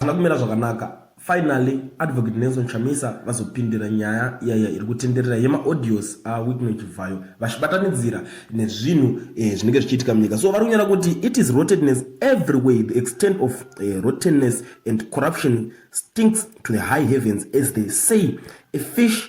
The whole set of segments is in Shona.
hazvina kumira zvakanaka Finally, Advocate Nelson Chamisa vazopindira nyaya yaiya iri kutenderera yemaaudios aWicknell Chivhayo vachibatanidzira nezvinhu eh, zvinenge zvichiitika munyika. So vari kunyara kuti it is rottenness everywhere, the extent of eh, rottenness and corruption stinks to the high heavens as they say a fish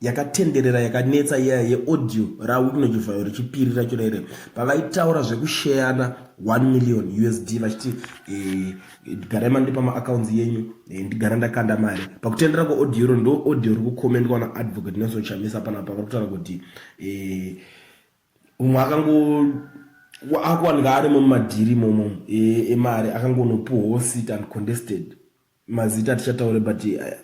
yakatenderera yakanetsa iya yeaudio raWickno Chivhayo rechipiri racho raire pavaitaura zvekusheyana 1 million usd vachiti eh, ndigarai mandipa maaccounts yenyu eh, ndigara ndakanda mari pakutendera kweaudio ro ndo audio ri kukomendwa naadvocate nelson chamisa panapa vari kutaura kuti eh, umwe akango akuwanika ari mumadhiri momo emari akangonopuhwo sit and contested mazita atichataure but eh,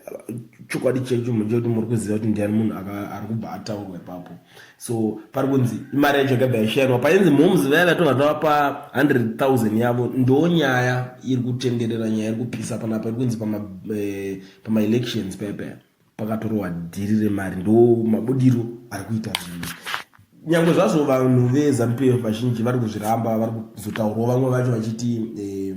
chokwadi checho chekuti muri kuziva kuti ndiani munhu ari kubva ataurwa ipapo so pari kunzi imari yacho yakabva yashairwa painzi moms vaya vatonga tavapa 100000 yavo ndo nyaya iri kutenderera nyaya iri kupisa panapa iri kunzi pamaelections eh, paya paya pakatorowa dhiri remari ndo mabudiro ari kuita zvinhu nyange zvazvo vanhu vezanupf vazhinji vari kuzviramba vari kuzotaurwa vamwe vacho vachiti eh,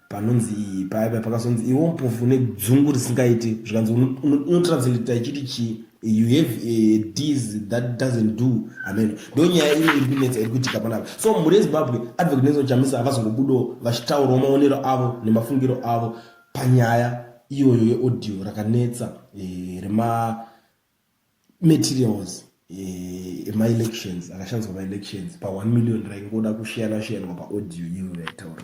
panonzi iyi paiva pakazonzi iwo mpofu nedzungu risingaiti zvikanzi unotranslata ichiti chii you have a dis that doesn't do amen ndo nyaya ino iri kunetsa iri kuitika panapa so mhuri yezimbabwe advocate nelson chamisa havazongobudawo vachitaurawo maonero avo nemafungiro avo panyaya iyoyo yeaudio rakanetsa eh, remamaterials eh, emaelections akashandiswa maelections pa1 million raingoda kushiyana shiyanwa paaudio iyoyo yaitaurwa